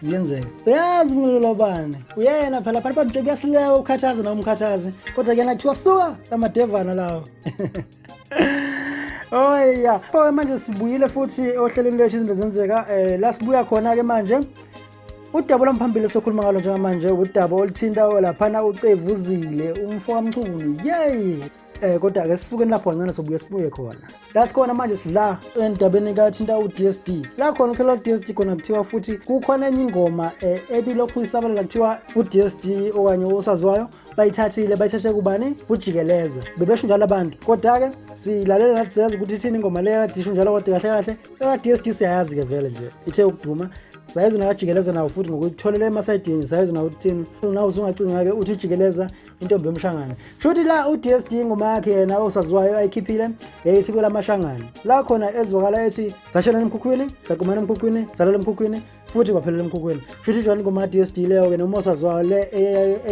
ziyenzeka uyazi umlilo lobani uyena phela phana bantu nje kuyasilewa ukukhathaza nawe umkhathaze kodwa kuyena kuthiwa suka lamadevana lawo oya oh, oh, manje sibuyile futhi ohlelweni lwethu izinto zenzeka um la sibuya khona-ke manje udaba olwamphambili sokhuluma ngalo njengamanje udaba oluthinta laphana ucevuzile umfo kamchunu yeyi Eh kodwa ke sisuke lapho kancane sobuye sibuye khona. La sikhona manje sila endabeni kathinta uDSD. La khona ukhela uDSD khona kuthiwa futhi kukhona enye ingoma eh, ebilokhu isabalela kuthiwa uDSD okanye osaziwayo bayithathile bayithathe kubani kujikeleza bebesho njalo abantu kodwa-ke silalela nathi siyazi ukuthi ithini ingoma leyo kadisho njalo kodwa kahle kahle eka-dsd siyayazi-ke vele nje ithe ukuduma sayizi nakajikeleza nawo futhi ngokuyitholela emasayidini sayizi nawo ukuthini nawo usungacinga-ke uthi ujikeleza intombi yomshangane shuthi la uDSD ingoma yakhe yena osaziwayo ayikhiphile yayithi kwelamashangane la khona ezwakala ethi sashela emkhukhwini sagumana emkhukhwini salala emkhukhwini futhi kwaphelela emkhukhwini shuthi ijona ingoma yaDSD leyo ke noma osaziwayo le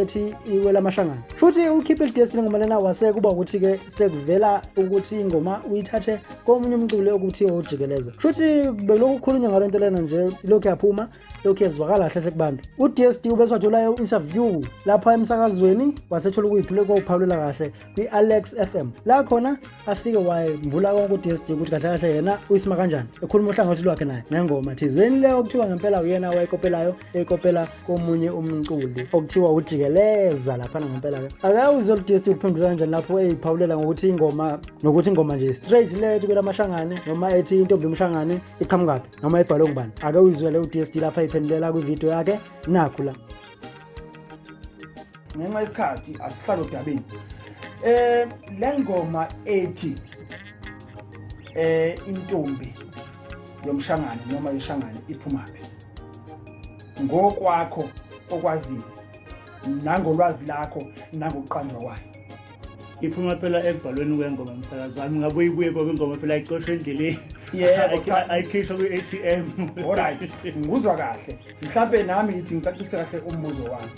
ethi ikwelamashangane shuthi ukhiphe iDSD ngoma lena wase kuba ukuthi ke sekuvela ukuthi ingoma uyithathe komunye umculi okuthi ojikeleza shuthi belokukhulunywa ngalento lena nje lokhu yaphuma lokhu kuyezwakala kahle hle kubantu uDSD ubeswatholayo interview lapha emsakazweni wasethola ukuyiphule kwawuphawulela kahle kwi-Alex FM la khona afike wayembula konke uDSD ukuthi kahle kahle yena uyisima kanjani ekhuluma uhlangothi lwakhe naye ngengoma thizeni leyo okuthiwa ngempela uyena wayekopelayo ekopela komunye umculi okuthiwa ujikeleza laphana ngempela ke akawuze uDSD uphendula kanjani lapho eyiphawulela ngokuthi ingoma nokuthi ingoma nje straight lethi kwelamashangane noma ethi intombi yomshangane iqhamukaphi noma ibhalwe ngubani ake uyizwele u-dsd lapho ayiphendulela kwividiyo yakhe nakhu la ngenxa yesikhathi asihlalo dabeni eh le ngoma ethi eh intombi yomshangane noma yeshangane iphumaphi ngokwakho okwaziyo nangolwazi lakho nangokuqanjwa kwayo iphuma phela ekubhalweni kwengoma msakazi wami ngabe uyibuye ngoba ingoma phela ayixoshwe endleleni ayikhishwa kwi-atm olright ngikuzwa kahle mhlawumpe nami ngithi ngicacise kahle umbuzo wami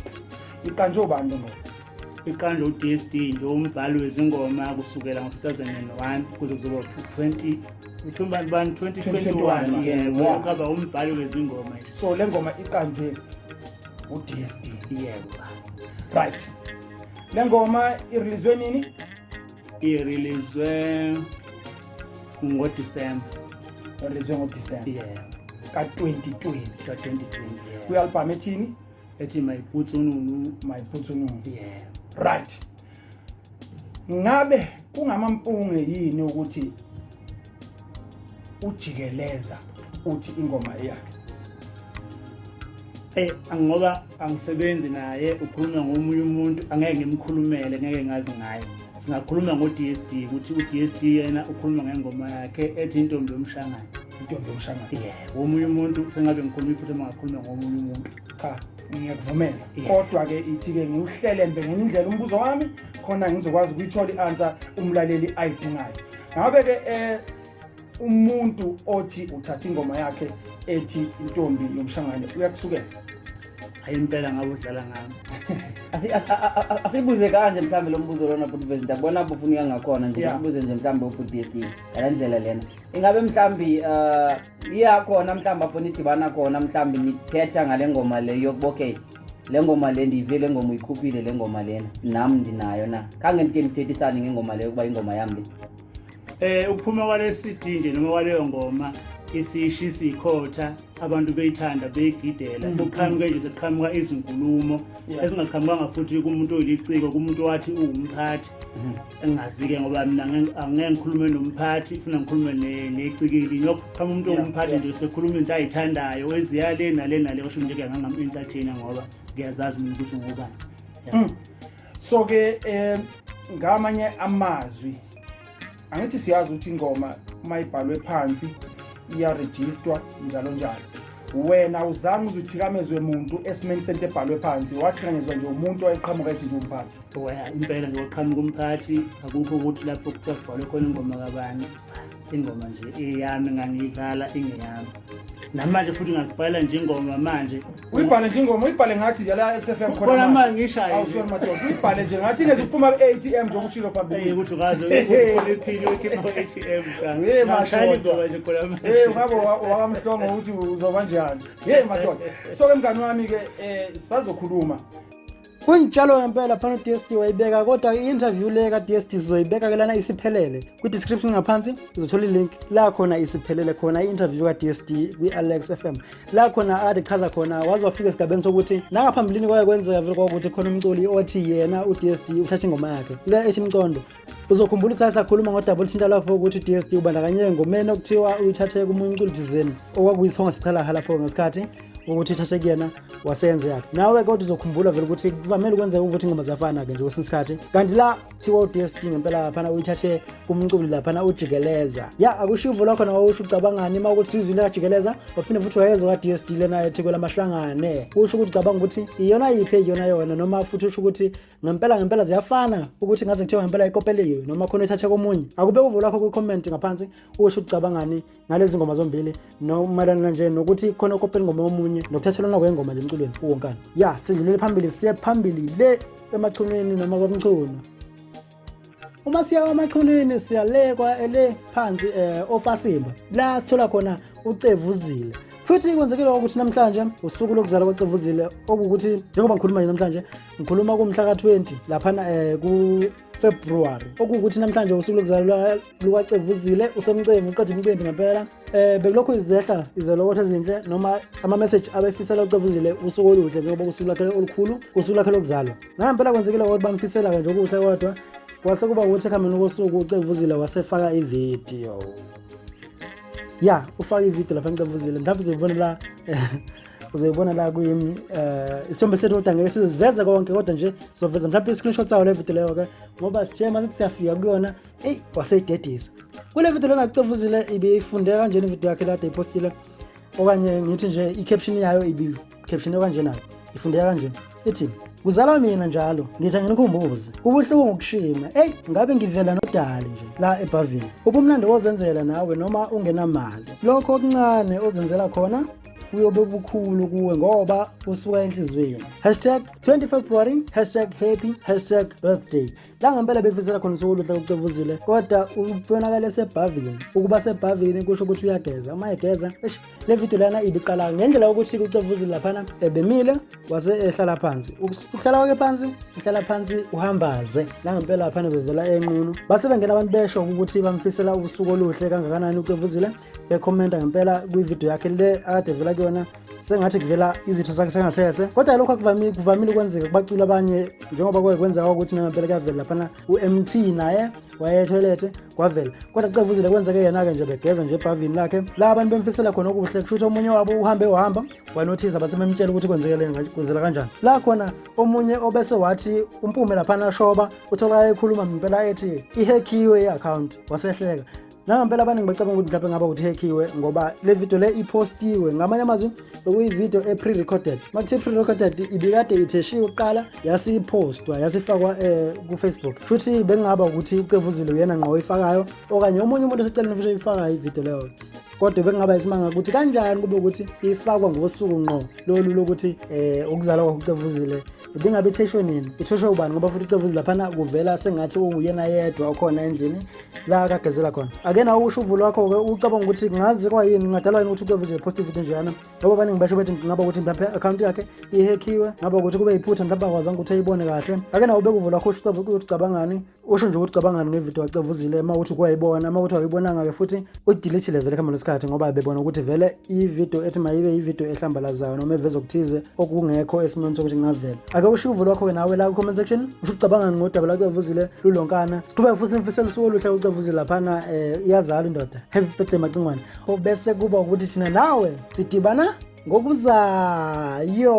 iqanjwe ubani lo ngoba iqanjwe u-dsd nje umbhali wezingoma kusukela ngo-2001 kuze kuzoba 20 uthumbani bani 2021 yebo kaba umbhali wezingoma so le ngoma iqanjwe u-dsd yebo right le ngoma irilizwe nini irilizwe ngodisemba irilizwe ngodisemba yeah. ka-2020 ka-2020 kwi-albhamu yeah. ethini ethi mayibhutsi ununu mayibhutsi ununu yeah. right ngabe kungamampunge yini ukuthi ujikeleza uthi ingoma eyakhe Eh angoba angisebenzi naye ukhuluma ngomunye umuntu angeke ngimkhulumele ngeke ngazi ngaye singakhuluma ngo-DSD ukuthi u-DSD yena ukhuluma ngengoma yakhe ethi intombi yomshangane intombi yomshangane yeah womunye umuntu sengabe ngikhuluma iphutha mangakhuluma ngomunye umuntu cha ngiyakuvumela kodwa-ke ithi-ke ngiwuhlelembe ngenye indlela umbuzo wami khona ngizokwazi ukuyithola i-ansa umlaleli ayidingayo ngabe ke eh umuntu othi uthatha ingoma yakhe ethi intombi yomshangane uyakusukela hayi impela ngabe udlala ngami asibuze kanje mhlawumbe lo mbuzo lona bhuti vezi ndiyakubona bufunika ngakhona nje sibuze nje mhlawumbe ubhuti yeti ngala ndlela lena ingabe mhlawumbi um iyakhona mhlawumbi afuna idibana khona mhlawumbi niphetha ngale ngoma le yokuba okay le ngoma le ndiyive le ngoma uyikhuphile le ngoma lena nam ndinayo na khange ndike ndithethisane ngengoma leyo ukuba ingoma yam le eh ukuphuma kwale CD nje noma kwaleyo ngoma isishi sikhotha abantu beyithanda beyigidela mm. kuqhamuke nje sekuqhamuka izinkulumo ezingaqhamukanga futhi kumuntu oyiliciko kumuntu wathi uwumphathi mm-hmm. engazi-ke ngoba mina angeke ngikhulume nomphathi funa ngikhulume necikili ngiyokuqhama umuntu ongumphathi nje sekhuluma into ayithandayo weziya le nale nale osho nje ke ngangam-entertaina ngoba ngiyazazi mina ukuthi ngubani hmm. so-ke um ngamanye amazwi angithi siyazi ukuthi ingoma uma ibhalwe phansi iyarejistwa njalo njalo wena uzange uzithikamezwe muntu esimeni sento ebhalwe phansi wathikanyezwa nje umuntu owayeqhamuka ethi nje umphathi impela nje waqhamuka umphathi akukho ukuthi lapho kuthiwa kubhalwe khona ingoma kabani ingoma nje eyami ngangiyidlala ingeyami namanje futhi ngakubhala nje ingoma manje uyibhale nje ingoma uyibhale ngathi nje la SFM khona khona manje ngishaye awusona madoda uyibhale nje ngathi ingeze uphuma ku ATM nje ukushilo phambili hey ukuthi ukaze uyiphini uyikhipha ku ATM cha hey madoda nje khona manje hey ngabo wakamhlongo ukuthi uzoba njani hey madoda so ke mngani wami ke eh sazokhuluma Kunjalo ngempela phana uDST wayibeka kodwa i-interview le kaDST sizoyibeka ke lana isiphelele. Kwi-description ngaphansi uzothola i-link la khona isiphelele khona i-interview kaDST kwi-Alex FM. La khona ade chaza khona waze wafika esigabeni sokuthi nangaphambilini kwaye kwenzeka vele kwakuthi khona umculi othi yena uDST uthatha ingoma yakhe. Le ethi Mcondo Uzokhumbula ukuthi sakhuluma ngodaba oluthinta lapho ukuthi DSD ubandakanye ngomeni okuthiwa uyithathe komunye umculi thizeni okwakuyisonga sichalaha lapho ngesikhathi ukuthi ithathe kuyena waseyenze yakhe nawe kodwa uzokhumbula vele ukuthi kuvamele ukwenzeka ukuthi ingoma ziyafana-ke nje kwesinye isikhathi kanti la thiwa u-dsd ngempela laphana uyithathe kumculi laphana ujikeleza ya akusho ivulo khona wawusho ucabangani uma ukuthi sizwile kajikeleza waphinde futhi wayeza kwa-dsd lena ethikwe lamahlangane kusho ukuthi ucabanga ukuthi iyona yiphi eyiyona yona noma futhi usho ukuthi ngempela ngempela ziyafana ukuthi ngaze ngithiwa ngempela ikopeliwe noma khona ithathe komunye akube uvo lakho kwi-comment ngaphansi usho ucabangani ngalezi ngoma zombili nomayelana nje nokuthi khona ukopela ingoma yomunye nokuthathelwana kwengoma nje emculweni uwonkana ya sidlulele phambili siye phambili le emachunwini noma kwamchunu uma siya kwamachunwini siya le kwa ele phansi eh ofasimba la sithola khona ucevuzile futhi kwenzekile ukuthi namhlanje usuku lokuzala kwacevuzile okuwukuthi njengoba ngikhuluma nje namhlanje ngikhuluma kumhla ka-20 laphana um kufebruwari okuwukuthi namhlanje usuku lokuzala lukacevuzile usomcevu uqeda umcimbi ngempela Eh bekulokhu izehla izelokotho ezinhle noma ama message abefisela ucevuzile usuku oluhle njengoba usuku lakhe olukhulu usuku lakhe lokuzalwa. Ngampela kwenzekile ukuthi bamfisela kanje okuhle kodwa kwase kuba ukuthi ekhambeni kosuku ucevuzile wasefaka ivideo. Ya, ufaka ivideo lapha ngicevuzile. Mhlawumbe uzobona la uzoyibona la kuyimi eh isithombe sethu kodwa ngeke siziveze konke kodwa nje sizoveza mhlawumbe i-screenshot sawo le video leyo ke ngoba sithe uma sithi siyafika kuyona eyi waseyidedisa kule video lena kucevuzile ibiyifunde kanjena ivideo yakhe lade ipostile okanye ngithi nje i-caption yayo ibi-caption okanje nayo ifundeka kanje ithi kuzalwa mina njalo ngithi anginikhumbuzi kubuhlungu ukushima eyi ngabe ngivela nodali nje la ebhavini ubumnandi wozenzela nawe noma ungenamali lokho okuncane ozenzela khona kuyobe bukhulu kuwe ngoba usuka enhliziyweni hashtag 25 february hashtag happy hashtag birthday la ngempela befisela khona usuku oluhle kucevuzile kodwa ubonakala esebhavini ukuba sebhavini kusho ukuthi uyageza uma egeza eish le video lana ibiqala ngendlela yokuthi kucevuzile laphana ebemile wase ehlala phansi ukuhlala kwakhe phansi uhlala phansi uhambaze la ngempela laphana bevela enqunu base bengena abantu besho ukuthi bamfisela ubusuku oluhle kangakanani ucevuzile bekhomenta ngempela kwivideo yakhe le akade vela kuyona sengathi kuvela izitho zakhe sengasese kodwa lokho akuvamile kuvamile ukwenzeka kubacula abanye njengoba kwaye kwenzeka ukuthi nangempela kuyavela laphana u-mt naye wayethoyilethe kwavela kodwa cevuzile kwenzeke yena-ke nje begeza nje ebhavini lakhe la abantu bemfisela khona okuhle kusho ukuthi omunye wabo uhambe wahamba wanothiza base bemtshela ukuthi kwenzekeleni kwenzela kanjani la khona omunye obese wathi umpume laphana shoba utholakala ekhuluma ngempela ethi ihekhiwe i-akhawunti wasehleka nangampela abaningi bacabanga ukuthi mhlawumbe ngaba uthekhiwe ngoba le video le ipostiwe ngamanye amazwi bekuyivideo e-pre-recorded uma kuthiwa i-pre-recorded ibikade itheshiwe kuqala yase ipostwa yase ifakwa um eh, kufacebook futhi bekungaba ukuthi ucevuzile uyena ngqo oyifakayo okanye omunye umuntu oseceleni futhi oyifakayo ivideo leyo kodwa bekungaba isimanga ukuthi kanjani kube ukuthi ifakwa ngosuku ngqo lolu lokuthi um ukuzalwa kwakucevuzile ibingabe itheshwe nini itheshwe ubani ngoba futhi ucevuzile laphana kuvela sengathi unguyena yedwa okhona endlini la akagezela khona ake nawo usho uvulo wakho-ke ucabanga ukuthi kungazi kwayini kungadalwa yini ukuthi kuyovize post ividiyo njeyana ngoba abaningi basho bethi ngaba ukuthi mhlawumpe i-akhawunti yakhe ihekhiwe ngaba ukuthi kube yiphutha mhlawumpe akwazanga ukuthi ayibone kahle ake nawo ubeka uvulo wakho usho ukuthi ucabangani usho nje ukuthi ucabangani ngevidiyo wacevuzile uma ukuthi kuwayibona uma ukuthi awuyibonanga-ke futhi udilithile vele kuhamba lwesikhathi ngoba bebona ukuthi vele ividiyo ethi mayibe ividiyo ehlambalazayo noma eveza okuthize okungekho esimweni sokuthi kungavela ake usho uvo lwakho-ke nawe la ku-comment section usho ucabangani ngodaba lakuyavuzile lulonkana siqhubeke futhi ngifisela usuku oluhle ucavuzile laphana um eh, iyazala indoda happy birthday macingwane obese kuba ukuthi thina nawe sidibana ngokuzayo